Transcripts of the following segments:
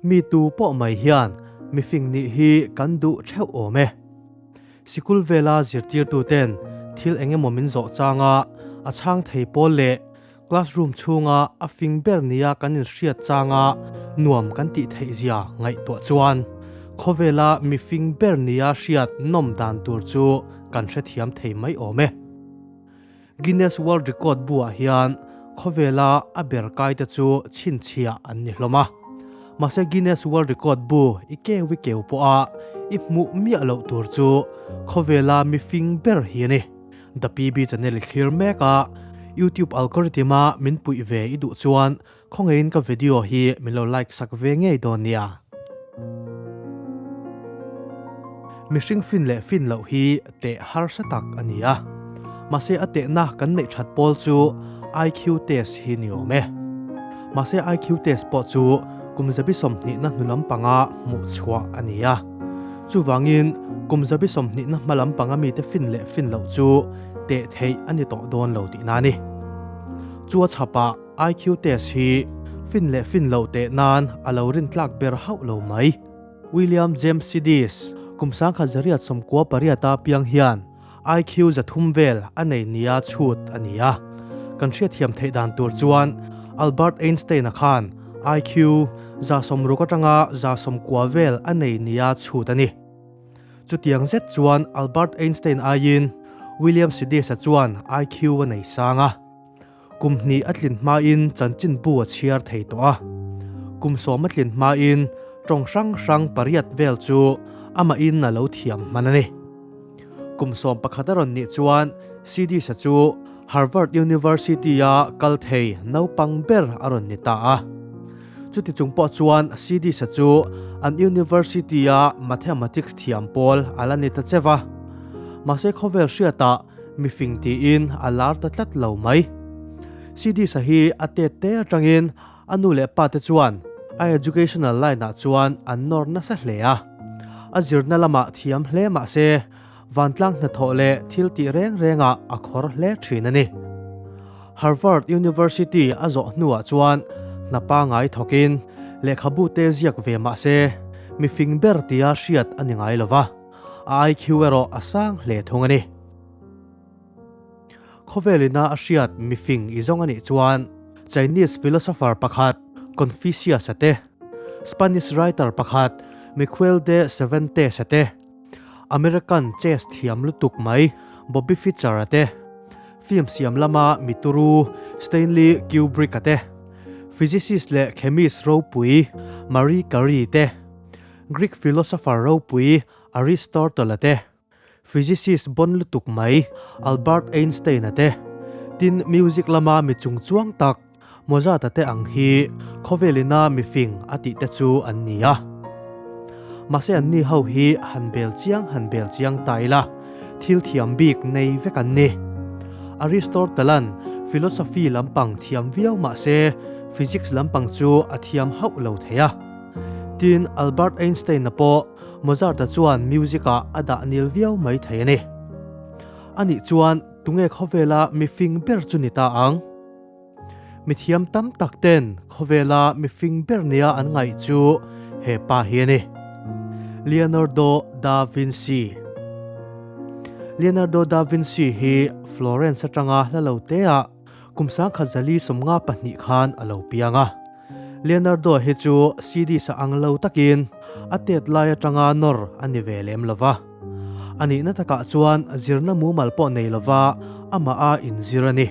Mi tu pawh mai hian mifing nih hi kan duh theuh awm e. Sikul vela zirtirtuten thil eng emaw min zawh changa a chhang thei pawl leh classroom chhunga a fing ber nia kan inhriat changa nuam kan tih theih zia ngaihtuah chuan khawvela mifing ber nia hriat nawm dan tur chu kan hrethiam thei mai awm e. Guinness World Record buah hian khawvela a ber kaite chu chhinchhia an ni hlawm a. Mahse Guinness World Record bu i keu i keu pawha i hmuh miah loh tur chu khawvela mifing ber hi a ni. The PB channel i thlir mek a, YouTube algorithm a min puih ve i duh chuan Khawngeiin ka video hi min lo like sak ve ngei dawn nia. Mihring fin leh fin loh hi teh harsa tak a ni a. Mahse a tehna kan neih that pawl chu IQ test hi ni awm e. Mahse IQ test pawh chu kum zabi sawmhnihna hnu lampanga hmuh chhuah a ni a. Chuvangin kum zabi sawmhnihna hma lampanga mite fin leh fin loh chu teh theih a ni tawh dawn lo tihna a ni. Chu a chhapah. IQ test hi fin leh fin loh teh nan a lo rin tlak ber hauh lo mai. William James Sidis, kum sangkhat zariat sawmkua pariat a piang hian IQ za thum vel a nei nia chhut a ni a. Kan hriatthiam theih dan tur chuan Albert Einstein-a khan IQ za sawmruk atanga za sawmkua vel a nei nia chhut a ni. Chutiang zet chuan Albert Einstein aiin William Sidis-a chuan IQ a nei sang a. Kum hnih a tlin hmain chanchin bu a chhiar thei tawh a. Kum sawm a tlin hmain tawng hrang hrang pariat vel chu amahin a lo thiam hman a ni. Kum sawm pakhat a rawn nih chuan Sidisa chu Harvard University-a kal thei naupang ber a rawn ni ta a. Chuti chung pawh chuan Sidisa chu an University-a Mathematics thiam pawl a la ni ta che va. Mahse khawvel hriatah mi fing tiin a lar ta tlat lo mai. Siddhisa hi a tet te atangin a nu leh pa te chuan a educational line ah chuan an nawr nasa hle a. A zirna lamah thiam hle mah se, vantlang hnathawh leh thil tih reng rengah a khawr hle thin a ni. Harvard University a zawh hnuah chuan hna pa ngai thawkin lehkhabu te ziak ve mah se, mi fing ber tia hriat a ni ngai lo va. IQ erawh a sang hle thung a ni. Khawvelina a hriat mifing i zawng a nih chuan Chinese philosopher pakhat Confucius a te, Spanish writer pakhat Miquel de Cervantes a te, American chess thiam lutuk mai Bobby Fischer a te, film siam lama mi turu Stanley Kubrick a te, physicist leh chemist ropui Marie Curie te, Greek philosopher ropui Aristotle-a te, physicist bawn lutuk mai Albert Einstein-a te, tin, music lama mi chung chuang tak Mozart-a te ang hi khawvelina mifing a tih te chu an ni a. Mahse an ni ho hi han bel chiang han bel chiang ta ila, thil thiam bik nei vek an ni. Aristotle-a'n philosophy lampang thiam viau mahse, physics lampang chu a thiam hauh lo thei a. Tin, Albert Einstein-a pawh Mozart-a chuan music-ah a dah nil viau mai thei a ni. Anih chuan tunge khawvela mi fing ber chu ni ta ang? Mithiam tam tak ten khawvela mi fing ber nia an ngaih chu hepa hi a ni, Leonardo da Vinci. Leonardo da Vinci hi Florence atanga hla lo teah Kum sangkhat zali sawmnga pahnih khan a lo piang a. Leonardo hi chu CDs a ang lo takin a tet lai atanga nawr a ni ve lem lo va. A nihna takah chuan zirna mumal pawh nei lova amah a inzir a ni.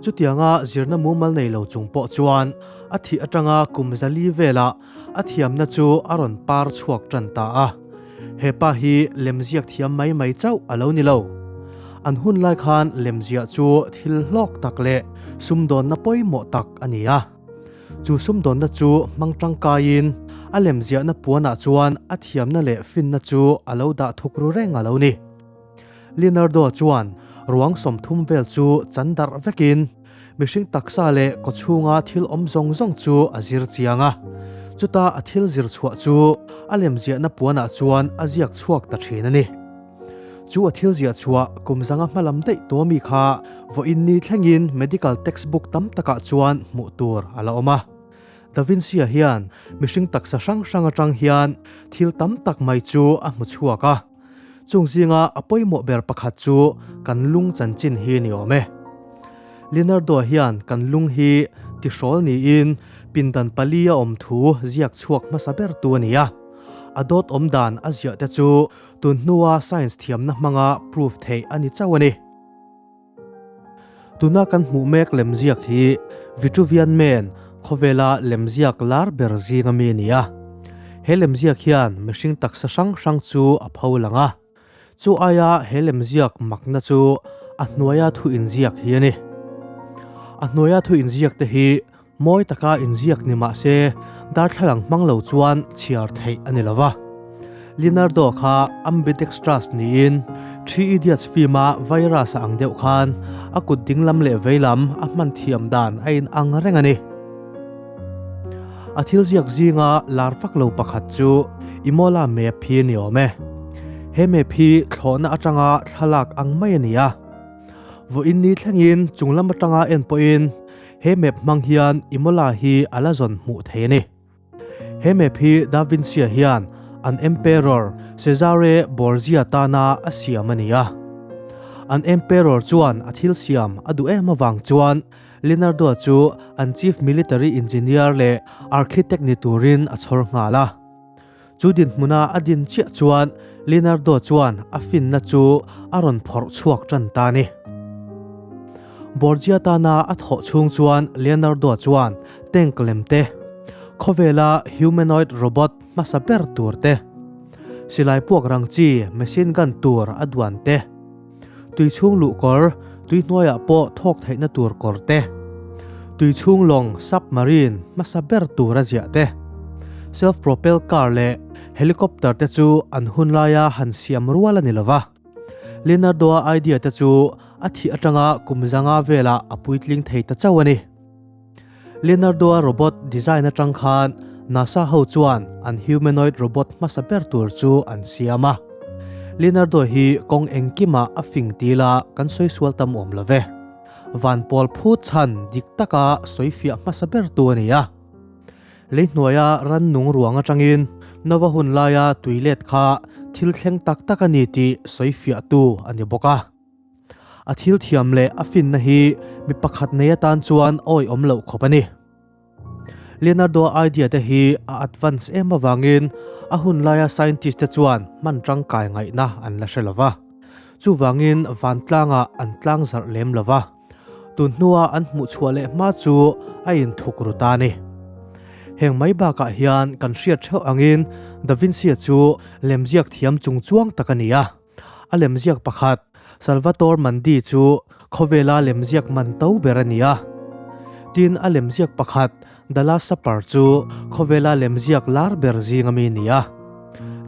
Chutianga zirna mumal nei lo chung pawh chuan a thih atanga kum zali velah a thiamna chu a rawn par chhuak ṭan ta a, hepa hi lemziak thiam mai mai chauh a lo ni lo. An hun lai khan lemziah chu thil hlawk tak leh sumdawnna pawimawh tak a ni a, chu sumdawnna chu hmang ṭangkaiin a lemziahna puanah chuan a thiamna leh finna chu a lo dah thuk ru reng a lo ni. Leonardo chuan ruang sawmthum vel chu chan darh vekin, Mihring taksa leh kawchhunga thil awm zawng zawng chu a zir chiang a, chuta a thil zir chhuah chu a lemziahna puanah chuan a ziak chhuak ta thin a ni. Chu a thil ziah chhuah kum zanga hmalam daih tuah mi kha vaw in ni thlengin medical textbook tam takah chuan hmuh tur a la awm a. Da Vinci-a hian mihring taksa hrang hrang atang hian thil tam tak mai chu a hmu chhuak a. Chung zinga a pawimawh ber pakhat chu kan lung chanchin hi ni awm e. Leonardo hian kan lung hi tihrawl niin pindan pali a awm thu ziak chhuak hmasa ber tu a ni a. A dawt awm dan a ziah te chu tunhnua science thiamna hmanga proof theih a ni chauh a ni. Tuna kan hmuh mek lemziak hi Vitruvian Man khawvela lemziak lar ber zinga mi ni a. He lemziak hian mihring taksa hrang hrang chu a pho lang a. Chu aia he lemziak makna chu a hnuaia thu inziak hi a ni. A hnuaia thu inziak te hi. Mawi taka inziak ni mah se, darthlalang hmang lo chuan chhiar theih a ni lo va. Leonardo kha ambidextrous niin Three Idiots fim-a virus a ang deuh khan a kut ding lam leh vei lam a hman thiam dan a in ang reng a ni. A thil ziak zinga lar vak lo pakhat chu Imola map hi ni awm e. He map hi thlawhna atanga thlalak ang mai a ni a. Vawiin ni thlengin chunglam atanga en pawhin He map hmang hian Imola hi a la zawn hmuh theih a ni. He map hi Da Vinci-a hian an Emperor Cesare Borgia tana a siam a ni a. An Emperor chuan a thil siam a duh em avang chuan Leonardo chu an Chief Military Engineer leh Architect ni turin a chhawr nghal a. Chu dinhmuna a din chiah chuan Leonardo chuan a finna chu a rawn phawrh chhuak tan ta ni. Borgia tana a thawh chhung chuan Leonardo chuan tank lem te, khawvela humanoid robot hmasa ber tur te, silai puak rang chi machine gun tur a duan te, tui chhung luh kawr, tui hnuaiah pawh thawk theihna tur kawr te, tui chhung lawng, submarine, hmasa ber tura ziah te, self propelled car leh helicopter te chu an hun laia han siam rual a ni lo va. Leonardo-a idea te chu a thih atanga kum zanga velah a puitling thei ta chauh a ni. Leonardo-a robot design atang khan NASA ho chuan an humanoid robot hmasa ber tur chu an siam a. Leonardo hi kawng engkima a fing ti la kan sawi sual tam awm lo ve. Van pawl phut chhan dik taka sawi fiah hmasa ber tu a ni a. Lei hnuaia ran nung ruang atangin Nova hun laia tui let kha thil thleng tak tak a ni tih sawi fiah tu a ni bawk a. A thil thiam leh a finna hi mi pakhat nei atan chuan awi awm loh khawp a ni. Leonardo-a idea te hi a advance em avangin a hun laia scientist te chuan hman tangkai ngaihna an la hre lo va. Chuvangin vantlangah an tlang zarh lem lo va. Tun hnua an hmuh chhuah leh hma chu a inthuk ru ta ni. Heng mai bakah hian kan hriat theuh angin Da Vinci-a chu lemziak thiam chung chuang tak a ni a. A lemziak pakhat, Salvatore Mandi chu khawvela lemziak man to ber a ni a. Tin, a lemziak pakhat, The Last Supper chu khawvela lemziak lar ber zinga mi ni a.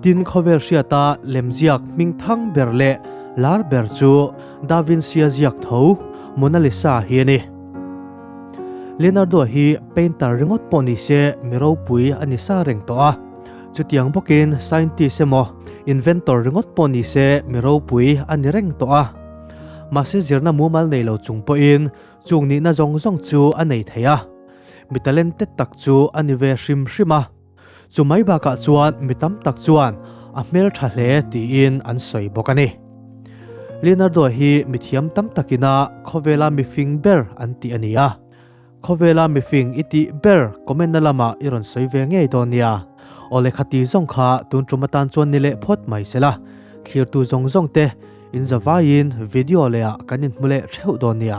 Tin, khawvel hriata lemziak hming thang ber leh lar ber chu Da Vinci-a ziak tho Mona Lisa hi a ni. Leonardo hi painter ringawt pawh ni se mi ropui a ni sa reng tawh a. Chutiang bawkin scientist emaw inventor ringawt pawh ni se mi ropui a ni reng tawh a. Mahse zirna mumal nei lo chung pawhin chung nihna zawng zawng chu a nei thei a. Mi talented tak chu a ni ve hrim hrim a. Chu mai bakah chuan mi tam tak chuan a hmeltha hle tiin an sawi bawk a ni. Leonardo hi mithiam tam takin a khawvela mifing ber an tih a ni a. Khawvela mifing i tih ber comment na lamah i rawn sawi ve ngei dawn nia. Aw lehkha ti zawng kha tun ṭum atan chuan ni leh phawt mai se la. Thlirtu zawng zawng te in za vaiin video leh ah kan inhmu leh ṭheuh dawn nia.